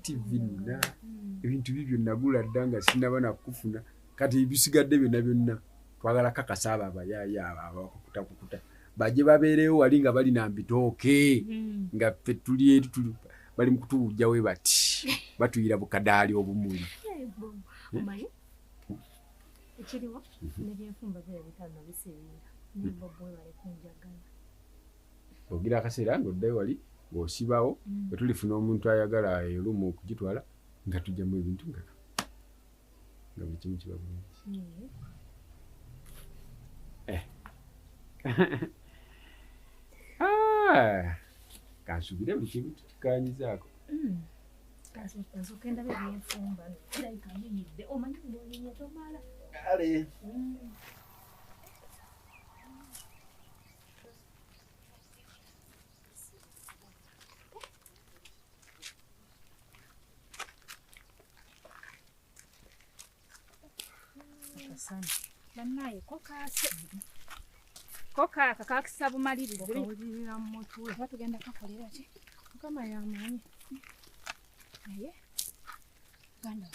tivi nina hmm. ebintu bibyo nagula dda nga sinaba nakufuna kati ebisigadde byonna byonna twagala kakasa abo abayaya abakukutakukuta baje babeerewo wali nga bali na mbitooke hmm. nga ffe tuli eri tuli bali mu kutuwujja we bati batuyira bukadaali obumuli ekiriwo nebyefumba bye bitano biseera naye bobo webale kunjagala ogira akaseera nga oddayo wali ng'osibawo mm. bwe tulifuna omuntu ayagala erumu okugitwala nga tujjamu ebintu nga nga buli kimu kiba bulungi mm. eh. ah. kansubire buli kimu tukikanyizaako mm. kale banaye kokase kokaka kakisa bumalirivu okawulirira mu mutwe oba tugenda kakolera ki mukama yamanyi naye ganda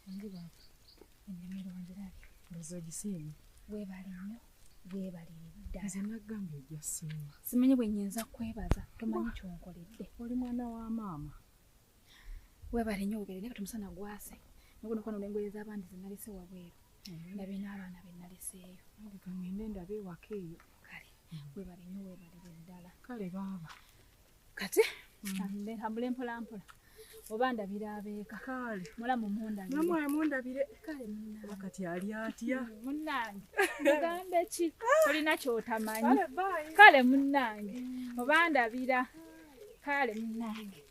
wange baba ennimiro wange labi ndoza ogisiimi weebale nnyo simanyi bwe nyinza kwebaza tomanyi kyonkoledde oli mwana wa maama webale nyo ogere naye tumusana gwase nikuno kwano nengoye z'abandi zinalese wabweru mm-hmm. ndabe n'abaana be naleseeyo kangende ndabe ewaka eyo kale webale nyo webalire ddala kale baaba kati ambule mm. mpolampola oba ndabira abeeka kale mulamu mundabiremwe mundabire kale munaoba kati ali atya mm, munange mugambe ki olina kyotamanyi kale munange mm. oba ndabira kale munange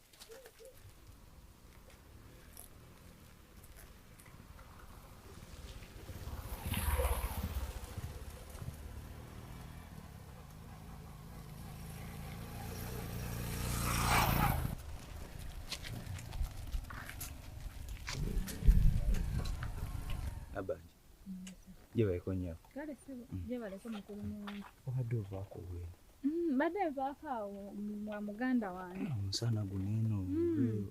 gyebaleko nyabo kale sebo mm. gyebaleko mukulu muwange obadde ovaako bwino mm, mbadde nvaako awo mwa muganda wange ah, omusana guno eno mm.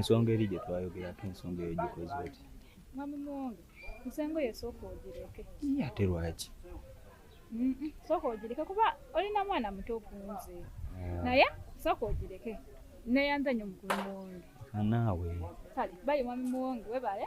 ensonga eri gye twayogerako ensonga eyo gikoze oti mwami muwonge nsengo ye sooka ogireke ate lwaki sooka ogireke kuba olina mwana muto okunze ah. naye sooka ogireke neyanza nyo mukulu muwonge anaawe kale bayi mwami muwonge webale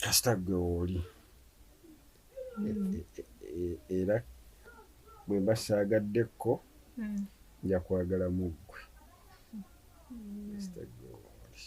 kasita gwe wooli mm. e, e, e, era bwe mba saagaddekko mm. nja kwagala mu ggwe mm. kasita gwe wooli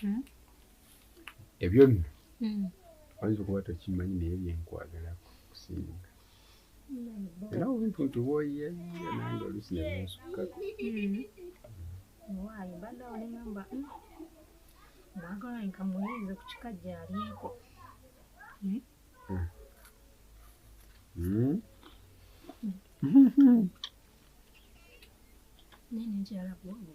hmm. ebyo nno hmm. oyinza okuba tokimanyi naye byenkwagala kusinga era obuntu nti woye nange olusi nebinsukako waayo bada olingamba mwagala nka muyinze ku kika gyalyeko nene nkyala bwogo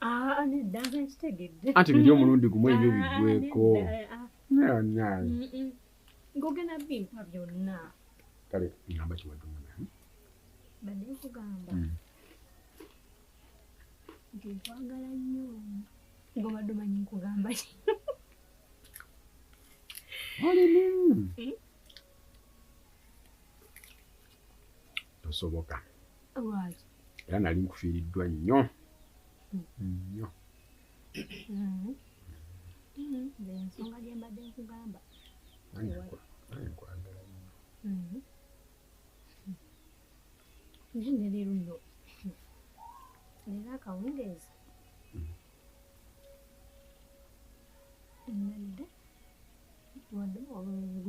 Ah, anti biri omulundi gumu ebyo ah, biggweko ngogenda bimpa byonna kale ngamba kiwadumuna hmm? badde nkugamba hmm. nti nkwagala nnyo ngobadde omanyi nkugamba ki tosoboka era nali nkufiiriddwa nnyo nnyo ensonga gyembadde nkugamba nkwagala nnyo mm-hmm. naye neleero nno leero akawungeezi mm-hmm. nalidde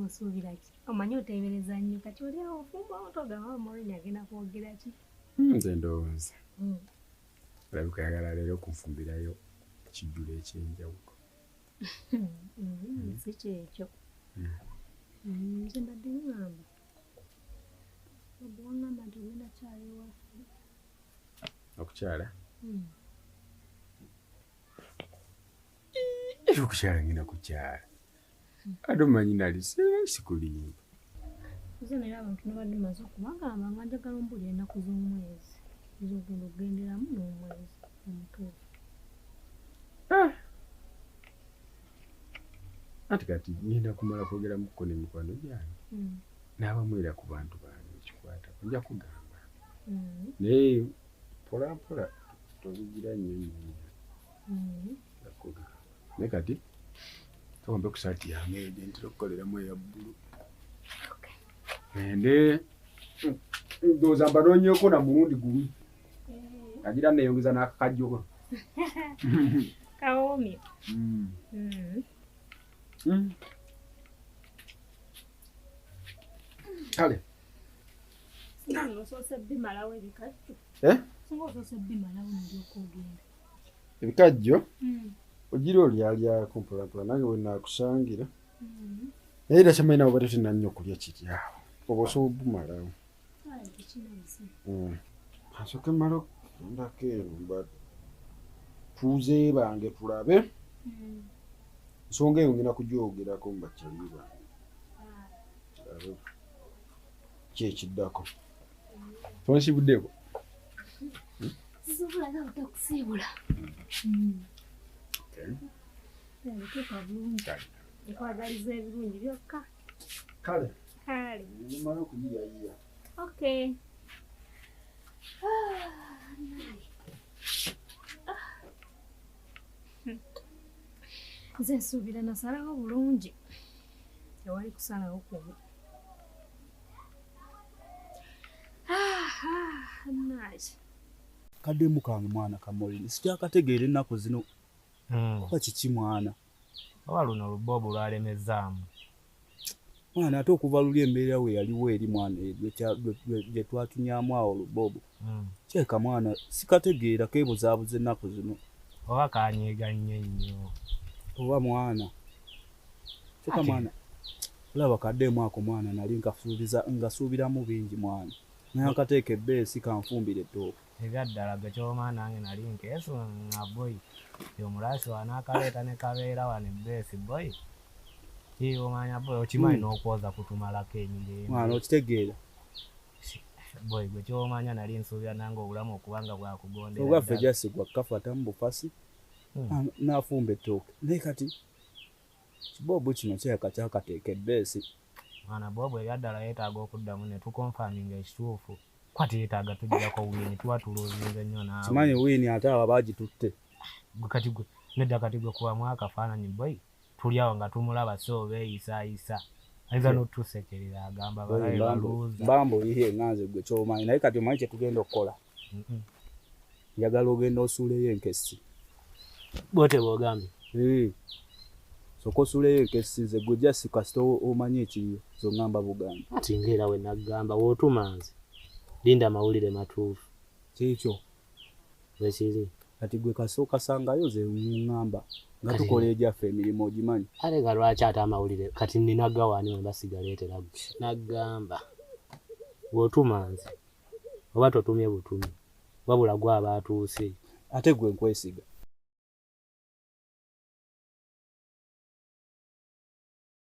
osuubira ki omanyi oteebereza nnyo kati oli awo ofumba otogaba omoloni agenda kwogera ki hmm, nze ndowooza hmm. olabika yagala leero okunfumbirayo ekijjulo ekyenjawulo hmm, si kyekyo nze mbadde ngamba obwangamba nti ogenda kyala ewaffe okukyala Era okukyala ngenda kukyala. Ate omanyi nali sikulimba. Nze naye abantu nabadde maze okubagamba nga njagala ombuli ennaku z'omwezi ez'ogenda okugenderamu n'omwezi omutuufu. Ah! Ati kati ngenda kumala kwogeramuko ne mikwano gyange hmm. n'abamu era ku bantu bange ekikwata nja kugamba hmm. naye mpolampola tozigira nnyo nnyo naye kati towambe ku saati yange ede ntera okukoleramu eya bbulu ende ndowooza mbanoonyeko na mulundi gumu agira neyongeza n'akakajjoko kawoomye hmm. hmm. hmm. kale ebikajjo mm. ogira olyalyako mpolampola nange wenakusangira mm. naye era kyamanyi nabo bati tena nnyo okulya kiryawo oba osobola obumalawo asoke mm. mala okutundako eno mba tuzeebange tulabe nsonga eyo ngenda kugyogerako mu bakyali bange kyekiddako Tonsibuddeko. Sisobola nga butakusiibula. Nteeka bulungi. Nkwagaliza ebirungi byokka. Kale. Kale. Nimala okuyiyayiya. Okay. Nze nsuubira nasalawo bulungi. Tewali kusalawo kubi. kademu kange mwana kamolini sikyakategeera ennaku zino hmm. kuba kiki mwana oba luno luboobu lwalemezaamu mwana ate okuva luli embeera we yaliwo eri mwana gye twatunyamu awo luboobu hmm. kyeka mwana sikategeera kebuzaabuza ennaku zino oba kanyegannye nnyo oba mwana kyeka mwana olaba kaddeemu ako mwana nali nkasuubiza ngasuubiramu bingi mwana naye akateeka ebbeesi kanfumbira ettooka ebyaddala gwe kyoma nange nali nkeesu nga boyi omulaasi wanaakaleeta ne kabeera wano ebbeesi boyi omanya boyi okimanyi hmm. n'okwoza kutumalako enyumba mwana okitegeera boy gwe kyomanya nali nsuubira nange obulamu okuba nga bwakugondera ogaffe gyasigwa kafata mu bufasi hmm. nafumba ettooke naye kati kiboobu kino kyeka kyakateeka ebbeesi mwana boobu ebyaddala yetaaga okuddamu ne tukonfaminga ekituufu kwa teyetaaga tugirako wiini tuba tuluzinze nnyo naawe kimanyi wiini ate aba bagitutte gwe kati gwe nedda kati gwe kubamu akafaananyi boy tuli awo nga tumulaba so beeyisayisa ayinza hmm. n'otusekerera agamba balabe baluuza bambo iye nga nze gwe kyomanyi naye kati omanyi kyetugenda okukola njagala ogenda osuuleyo enkessi bote bwogambye hmm. soka osuuleyo enkessi nze gwe jasi kasita omanyi ekiriyo zongamba bugambi ati ngaera we naggamba wootuma nze linda amawulire matuufu kyekyo Bwekiri. Kati gwe kasooka sangayo ze ngamba nga tukola egyaffe emirimu ogimanyi. Kale nga lwaki ate amawulire kati nina gawaani wemba sigaleetera gwe. Nagamba bw'otuma nze oba totumye butumi wabula gwe aba atuuse. Ate gwe nkwesiga.